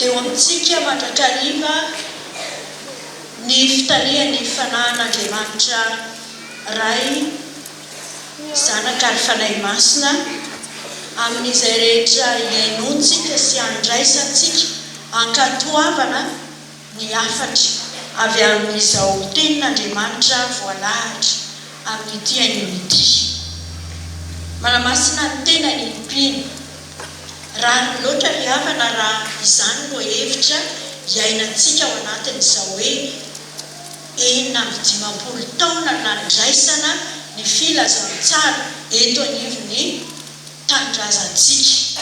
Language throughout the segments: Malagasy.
Eo amintsika mandrakariva ny fitarihan'ny Fanahin'Andriamanitra Ray, Zanaka ary Fanahy Masina amin'izay rehetra iainontsika sy andraisantsika ankatoavana. ny hafatra avy amin'izao Tenin'Andriamanitra voalahatra amin'ity haingony ity. Manamasina ny tenany ny mpino. Rariny loatra ry havana raha izany no hevitra iainantsika ao anatin'izao hoe enina amby dimampolo taona nandraisana ny filazantsara eto anivon'ny tanindrazantsika.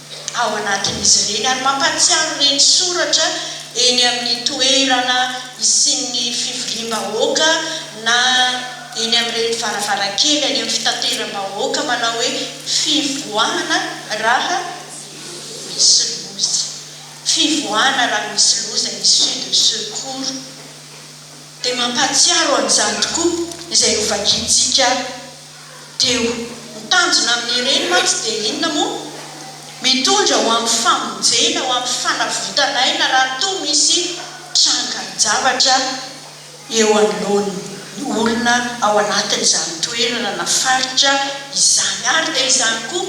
ao anatin'izy ireny ary mampahatsiaro ireny soratra eny amin'ny toerana isian'ny fivoriam-bahoaka na eny amin'ireny varavarankely any amin'ny fitateram-bahoaka manao hoe fivoahana raha misy loza, fivoahana raha misy loza, issue de secours. Dia mampahatsiaro an'izany tokoa izay hovakiantsika. Deo. Ny tanjona amin'ireny mantsy dia inona moa? Mitondra ho amin'ny famonjena, ho amin'ny fanavotan'aina raha toa misy trangan-javatra eo anoloan'ny olona ao anatin'izany toerana na faritra izany. Ary dia izany koa.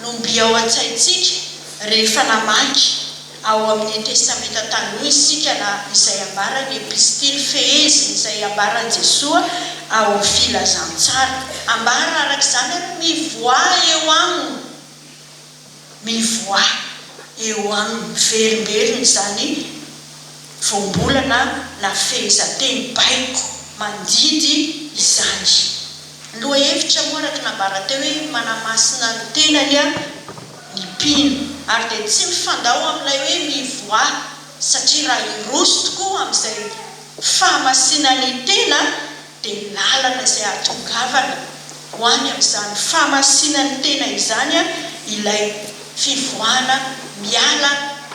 no mby ao an-tsaintsika rehefa namaky ao amin' ny Testamenta Taloha isika na izay ambaran' ny Epistily fehezin' izay ambaran'i Jesoa ao Filazantsara. Ambara araka izany hoe mivoaha eo aminy, mivoaha eo aminy, miverimberina izany voambolana na fehezanteny baiko mandidy izany. Ny lohahevitra moa araka ny nambarany teo hoe manamasina ny tenany ny mpino ary dia tsy mifandao amin'ilay hoe mivoaha satria raha hiroso tokoa amin'izay fahamasinany tena dia ny lalana izay ahatongavana ho any amin'izany fahamasinany tena izany ilay fivoahana miala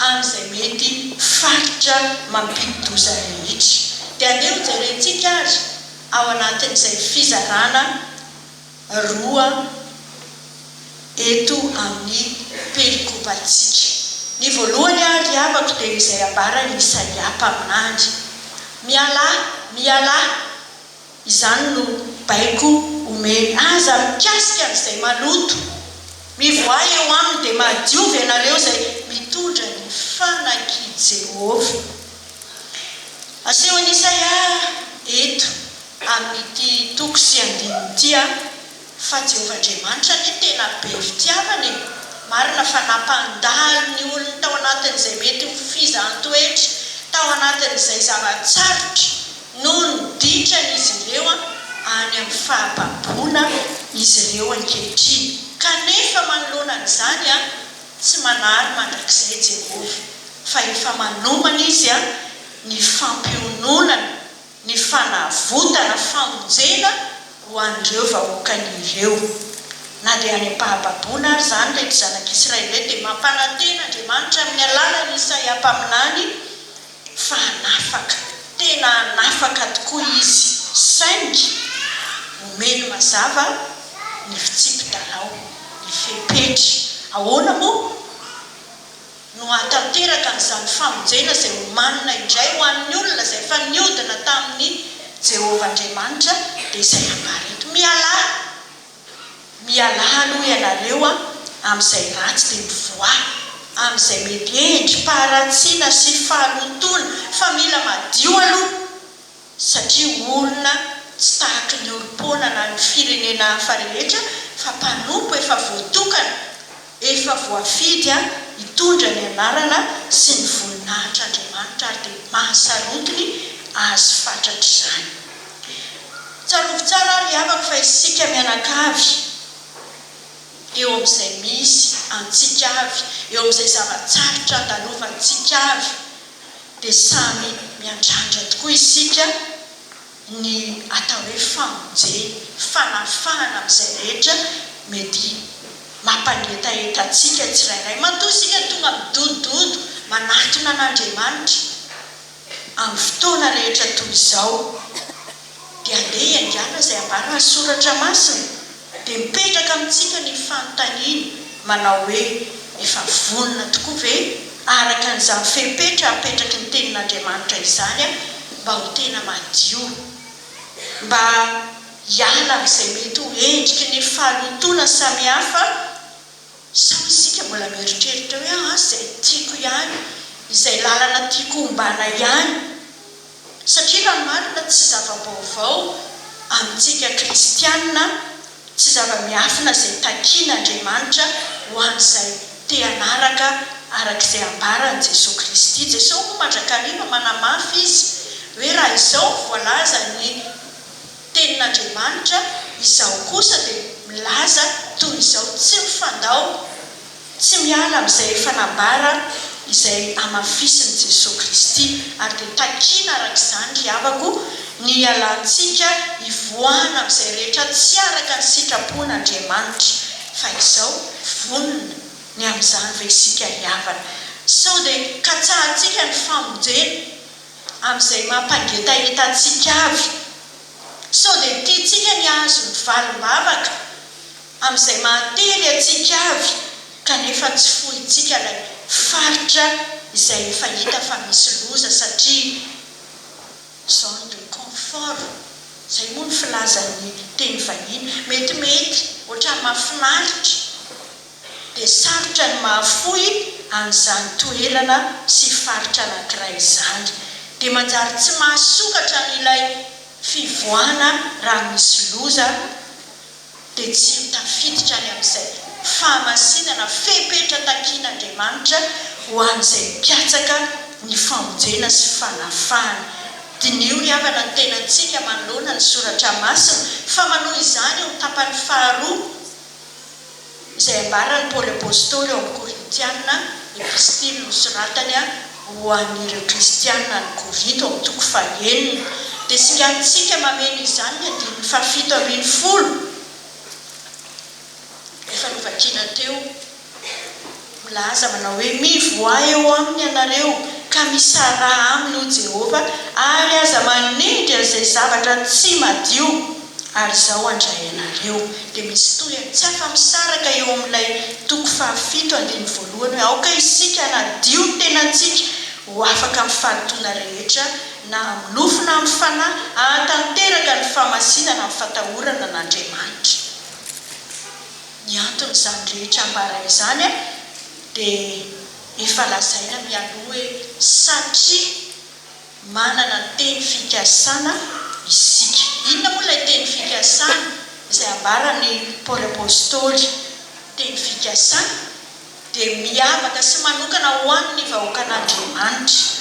amin'izay mety faritra mampidi-doza rehetra. Dia andeha hojerentsika ary. ao anatin'izay fizarana roa eto amin'ny pelikopantsika. Ny voalohany ary ry havako dia izay ambaran'i Isaia mpaminany, Mialà, mialà, izany no baiko omeny, aza mikasika an'izay maloto, mivoaha eo aminy dia mahadiova ianareo izay mitondra ny fanak'i Jehovah. Asehon'i Isaia eto amin'ity toko sy andininy ity fa Jehovah Andriamanitra anie tena be fitiavana e! Marina fa nampandalo ny olony tao anatin'izay mety ho fizaham-toetra, tao anatin'izay zava-tsarotra noho ny ditrany izy ireo any amin'ny fahababoana izy ireo ankehitriny. Kanefa manoloana an'izany, Tsy manary mandrakizay i Jehovah, fa efa manomana izy ny fampiononana, ny fanavotana, famonjena ho an'ireo vahoakany ireo. Na dia any am-pahababoana ary izany, ireto zanak'Israely ireto dia mampanantena Andriamanitra amin'ny alalan'i Isaia mpaminany fa hanafaka, tena hanafaka tokoa izy saingy omeny mazava ny fitsipi-dalao, ny fepetra. Ahoana moa no hahatanteraka an'izany famonjena izay homanina indray ho an'ny olona izay efa niodina tamin'i Jehovah Andriamanitra dia izay ambara eto? Mialà! Mialà aloha ianareo a, amin'izay ratsy dia mivoaha, amin'izay mety endri-paharatsiana sy fahalotoana, fa mila madio aloha satria olona tsy tahaky ny olom-poana na ny firenena hafa rehetra fa mpanompo efa voatokana, Efa voafidy hitondra ny anarana sy ny voninahitr'Andriamanitra ary dia mahasarotiny Azy fatratra izany. Tsarovy tsara ry havako fa isika mianakavy, eo amin'izay misy antsika avy, eo amin'izay zava-tsarotra andalovantsika avy dia samy miandrandra tokoa isika, ny atao hoe famonjena, fanafahana amin'izay rehetra mety mampangetaheta antsika tsirairay. Matoa isika tonga midodododo manatona an'Andriamanitra amin'ny fotoana rehetra toy izao, dia andeha hiaingàna izay ambaran'ny Soratra Masina. Dia mipetraka amintsika ny fanontaniana manao hoe, Efa vonona tokoa ve, araka an'izany fepetra apetraky ny Tenin'Andriamanitra izany aho mba ho tena madio, mba hiala amin'izay mety ho endriky ny fahalotoana samihafa Sa isika mbola mieritreritra hoe aah izay tiako ihany, izay lalana tiako hombana ihany? Satria raha ny marina tsy zava-baovao amintsika kristianina, tsy zava-miafina izay takian' Andriamanitra ho an'izay te hanaraka araka izay ambaran'i Jesoa Kristy. Jesoa moa mandrakariva manamafy izy hoe raha izao no voalazan'ny. Tenin'Andriamanitra, izaho kosa dia milaza toy izao, Tsy mifandao, tsy miala amin'izay efa nabara, izay hamafisin'i Jesoa Kristy. Ary dia takiana araka izany, ry havako, ny hialantsika, hivoahana amin'izay rehetra tsy araka ny sitrapon'Andriamanitra. Fa izao, vonona ny amin'izany ve isika hihavana? Sao dia katsahantsika ny famonjena? amin'izay mampangetaheta antsika avy. Sao dia tiantsika ny hahazo ny valim-bavaka amin'izay mahatery antsika avy kanefa tsy fointsika ilay faritra izay efa hita fa misy loza satria zone de confort, izay moa ny filazan'ny teny vahiny. Metimety, ohatran'ny mahafinaritra. dia sarotra ny mahafoy an'izany toerana sy faritra anankiray izany, dia manjary tsy mahasokatra an'ilay fivoahana raha misy loza, dia tsy ho tafiditra any amin'izay fahamasinana fepetra takian'Andriamanitra ho an'izay mpiatsaka ny famonjena sy fanafahana. Diniho ny havana ny tenantsika manoloana ny Soratra Masina, fa manohy izany eo amin'ny tapany faharoa. izay ambaran'i Paoly Apostoly ao amin'ny Korintiana, Epistily nosoratany ho an'ireo Kristiana any Korinto amin'ny toko fahenina. Dia singanintsika mameno izany ny andininy fahafito ambin'ny folo efa novakiana teo. Milaza manao hoe, Mivoaha eo aminy ianareo, ka misaraha aminy, hoy Jehovah, ary aza manendry an'izay zavatra tsy madio, ary izao handray anareo. Dia misy toy an, tsy afa-misaraka eo amin'ilay toko fahafito andininy voalohany hoe, Aoka isika hanadio ny tenantsika ho afaka amin'ny fahatoana rehetra, na amin'ny nofo na amin'ny fanahy, hahatanteraka ny fahamasinana amin'ny fatahorana an'Andriamanitra. Ny anton'izany rehetra ambara izany dia efa lazaina mialoha hoe satria manana ny teny fikasana isika. Inona moa ilay teny fikasana izay ambaran'i Paoly Apostoly? Teny fikasana dia miavaka sy manokana ho an'ny vahoakan'Andriamanitra.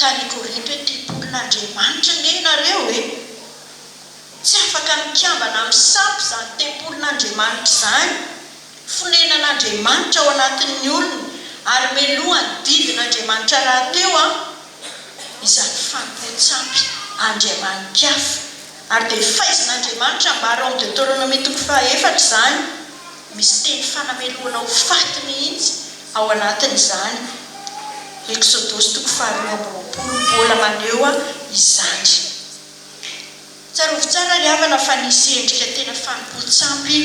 tany Korinto hoe, Tempolin'Andriamanitra ange ianareo e! Tsy afaka mikambana amin'ny sampy izany tempolin'Andriamanitra izany, fonenan'Andriamanitra ao anatin'ny olona, ary meloha ny didin'Andriamanitra rahateo an! izany fanompoan-tsampy andriamani-kafa. Ary dia faizin'Andriamanitra ambara ao amin'ny Deoteronomia toko faha efatra izany. Misy teny fanamelohana ho faty mihitsy ao anatin'izany Eksodosy toko faharoa amby roapolo mbola maneho izany. Tsarovy tsara ry havana fa nisy endrika tena fanompoan-tsampy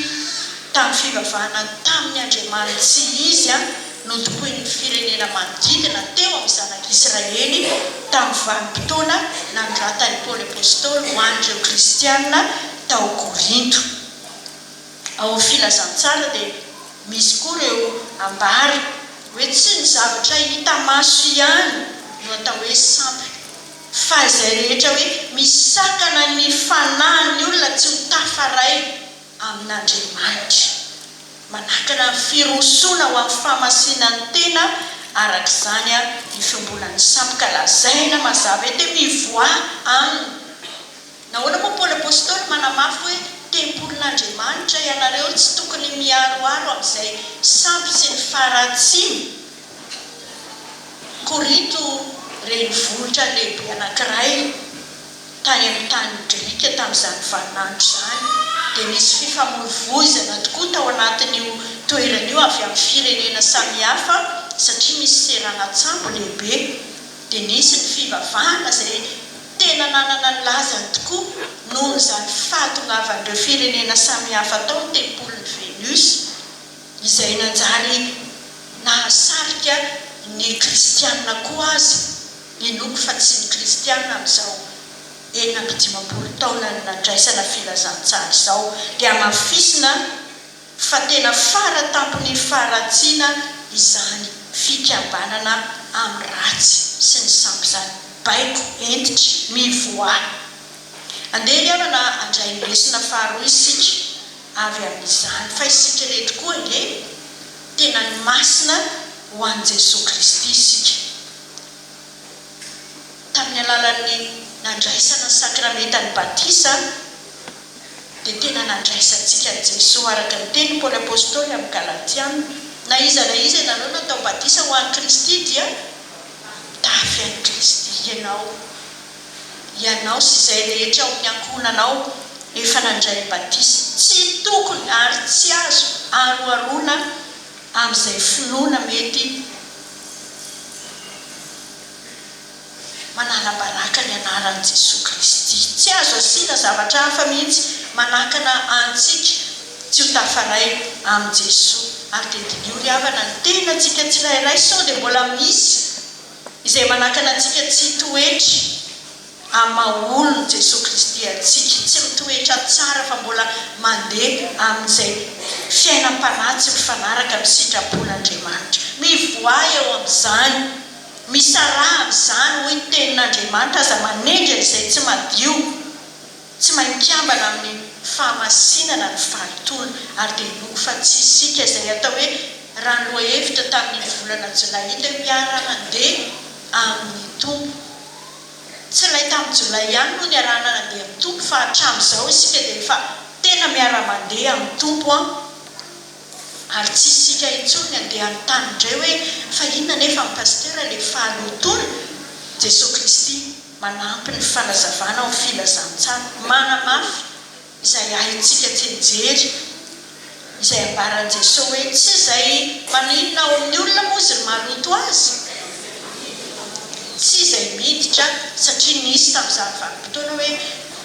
tamin'ny fivavahana tamin'ny andriamaniny tsy izy nodokoin'ny firenena manodidina teo amin'ny Zanak'Israely tamin'ny vanim-potoana nanoratan'i Paoly Apostoly ho an'ireo Kristiana tao Korinto. Ao Filazantsara dia misy koa ireo ambara hoe tsy ny zavatra hita maso ihany no atao hoe sampy fa izay rehetra hoe misakana ny fanahin'ny olona tsy ho tafaray amin'Andriamanitra. Manakana ny firosoana ho amin'ny fahamasinantena araka izany ny fiombonan'ny sampy ka lazaina mazava ete mivoaha aminy. Nahoana moa Paoly Apostoly manamafy hoe tempolin'Andriamanitra ianareo? Tsy tokony miharoharo amin'izay sampy sy ny faharatsian'i Korinto renivohitra lehibe anankiray tany amin'ny tany grika tamin'izany vaninandro izany. Dia nisy fifamoivoizana tokoa tao anatin'io toerana io avy amin'ny firenena samihafa satria misy seranan-tsambo lehibe. Dia nisy ny fivavahana izay Tena nanana ny lazany tokoa noho izany fahadongavan'ireo firenena samihafa tao ny tempolin'i Venus, izay nanjary nahasarika ny Kristianina koa aza, inoako fa tsy ny Kristianina amin'izao enina amby dimampolo taonan'ny nandraisana filazantsara izao, dia hamafisina, fa tena fara tampon'ny faharatsiana izany fikabanana amin'ny ratsy sy ny sampy izany. Baiko hentitra, mivoaha. Andeha ry havana handray ny lesona faharoa isika avy amin'izany, fa isika ireto koa ange tena ny masina ho an'i Jesoa Kristy isika. tamin'ny alalan'ny nandraisana ny sakramentan'ny batisa dia tena nandraisantsika an'i Jesoa araka ny tenin'i Paoly Apostoly amin'ny Galatiana, Na iza na iza ianareo natao batisa ho an'i Kristy dia mitafy an'i Kristy. Ianao, ianao sy izay rehetra ao amin'ny ankohonanao efa nandray ny batisa. Tsy tokony ary tsy azo aroharoana amin'izay finoana mety. Manalabaraka ny anaran'i Jesoa Kristy. Tsy azo asiana zavatra hafa mihitsy manakana antsika tsy ho tafaray amin'i Jesoa. Ary dia diniho ry havana, ny tenantsika tsirairay sao dia mbola misy izay manakana antsika tsy hitoetra amin'ny maha olon'i Jesoa Kristy antsika. Tsy mitoetra tsara fa mbola mandeha amin'izay fiainam-panahy tsy mifanaraka amin'ny sitrapon'Andriamanitra. Mivoaha eo amin'izany. Misaraha amin'izany, hoy ny Tenin'Andriamanitra, aza manendry an'izay tsy madio. Tsy main-kambana amin'ny fahamasinana ny faritony, ary dia inoako fa tsy isika izay atao hoe rano lohahevitra tamin'ny volana jolay ilay mpiara-mandeha amin'ny Tompo. Tsy ilay tamin'ny jolay ihany no niarahana nandeha amin'ny Tompo fa hatramin'izao isika dia efa tena miara-mandeha amin'ny Tompo an! Ary tsy isika intsony ny handeha hanontany indray hoe fa inona anefa ny Pasitera ilay fahalotoana? Jesoa Kristy manampy ny fanazavana ho filazantsara manamafy. izay haintsika tsy nijery izay ambaran'i Jesoa hoe tsy izay maninona ao amin'ny olona moa izy no mahaloto azy, tsy izay miditra satria nisy tamin'izany vanim-potoana hoe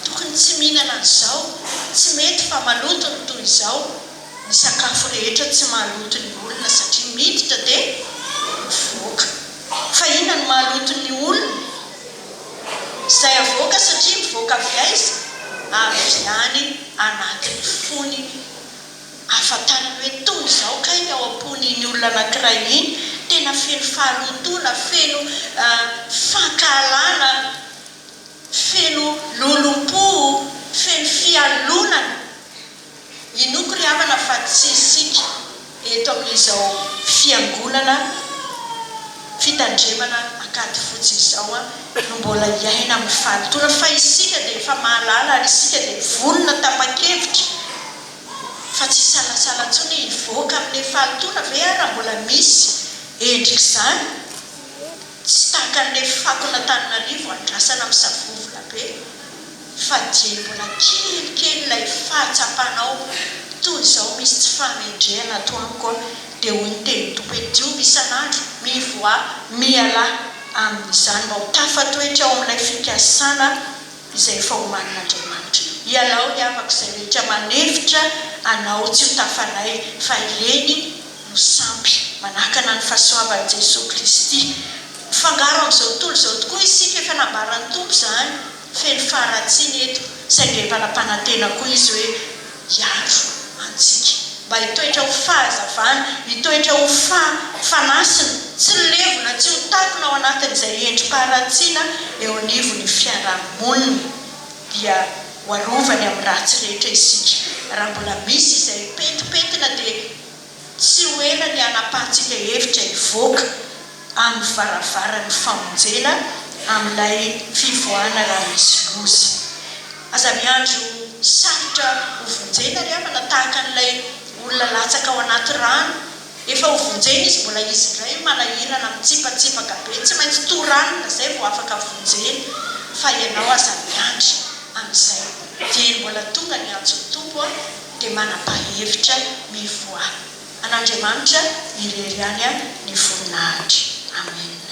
tokony tsy mihinana an'izao, tsy mety fa maloto ny toy izao, ny sakafo rehetra tsy mahaloto ny olona satria miditra dia mivoaka, fa inona no mahaloto ny olona? Izay avoaka satria mivoaka avy aiza? Avy any anatin'ny fony ahafantarany hoe toy izao kay ny ao am-pony iny olona anankiray iny, tena feno faharontoana, feno fankahalana, feno lolompo, feno fialonana. Inoako ry havana fa tsy isika eto amin'izao fiangonana fitandremana ankady fotsy izao no mbola hiaina amin'ny fahalotoana fa isika dia efa mahalala ary isika dia vonona tapa-kevitra fa tsy hisalasala intsony hoe hivoaka amin'ny fahalotoana ve ary raha mbola misy endrik'izany tsy takan'ny fako an'Antananarivo andrasana misavovola be fa dia mbola kelikely ilay fahatsapanao toy izao misy tsy fahamendrehana ato amiko a! dia hoy ny tenin'ny Tompo hoe diovy isan'andro, mivoaha, mialà amin'izany mba ho tafatoetra ao amin'ilay fikasana izay efa omanin'Andriamanitra, ialao ry havako izay rehetra manefitra anao tsy ho tafanay fa ireny no sampy manakana ny fahasoavan'i Jesoa Kristy, mifangaro amin'izao tontolo izao tokoa isika, efa nambaran'ny Tompo izany. Feno faharatsiana eto, saingy efa nampanantena koa izy hoe hiaro antsika. Mba hitoetra ho fahazavana, hitoetra ho fa, fanasina, tsy levona, tsy ho takona ao anatin'izay endri-paharatsiana eo anivon'ny fiarahamonina, dia ho arovany amin'ny ratsy rehetra isika. Raha mbola misy izay pentipentina dia. Tsy ho ela ny hanapahantsika hevitra hivoaka amin'ny varavaran'ny famonjena amin'ilay fivoahana raha misy loza. Aza miandry ho sarotra hovonjena ry havana tahaka an'ilay olona latsaka ao anaty rano. Efa hovonjena izy, mbola izy indray manahirana, mitsipatsipaka be, tsy maintsy toranina izay vao afaka vonjena. Fa ianao aza miandry amin'izay. Dieny mbola tonga ny antson'ny Tompo an! dia manapa-hevitra mivoaha an'Andriamanitra irery ihany ny voninahitra. Amena.